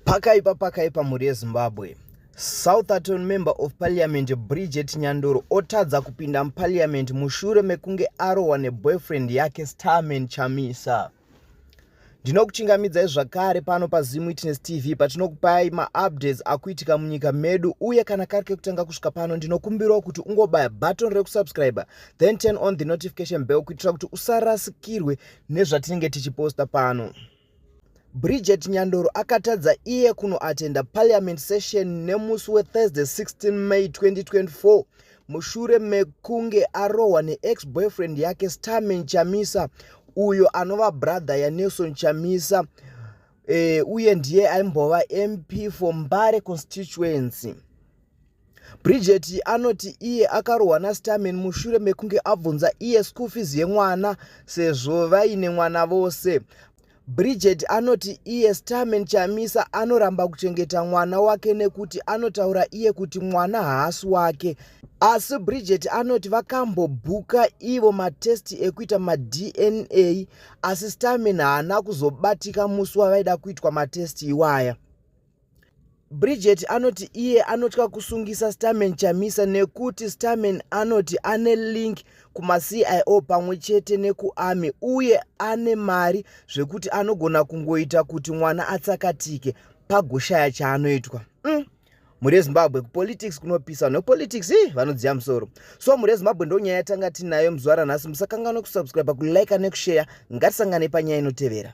Pakaipa pakaipa mhuri yeZimbabwe. Southerton member of parliament Bridget Nyandoro otadza kupinda muparliament mushure mekunge arohwa neboyfriend yake Starman Chamisa. Ndinokuchingamidzai zvakare pano paZim Witness TV patinokupai maupdates akuitika munyika medu uye kana kari kekutanga kusvika pano ndinokumbirawo kuti ungobaya button rekusubscribe then turn on the notification bell kuitira kuti usarasikirwe nezvatinenge tichiposta pano. Bridget Nyandoro akatadza iye kunoatenda parliament session nemusi weThursday 16 May 2024 mushure mekunge arohwa neex-boyfriend yake Starman Chamisa uyo anova brother yaNelson Chamisa e, uye ndiye aimbova MP for Mbare constituency. Bridget anoti iye akarohwa naStarman mushure mekunge abvunza iye school fees yemwana sezvo vaine mwana vose. Bridget anoti iye Starman Chamisa anoramba kuchengeta mwana wake nekuti anotaura iye kuti mwana haasi wake. Asi Bridget anoti vakambobhuka ivo matest ekuita maDNA asi Starman haana kuzobatika musi wavaida kuitwa matest iwaya. Bridget anoti iye anotya kusungisa Starman Chamisa nekuti Starman anoti ane link kumaCIO pamwe chete nekuArmy uye ane mari zvekuti anogona kungoita kuti mwana atsakatike pagoshaya chaanoitwa. Mm. mhuri yezimbabwe kupolitics kunopisa vanhu vepolitics i vanodziya musoro so mhuri yezimbabwe ndo nyaya yatanga tinayo muzuva ranhasi musakanganwa kusubscribe kulike nekushare ngatisanganei panyaya inotevera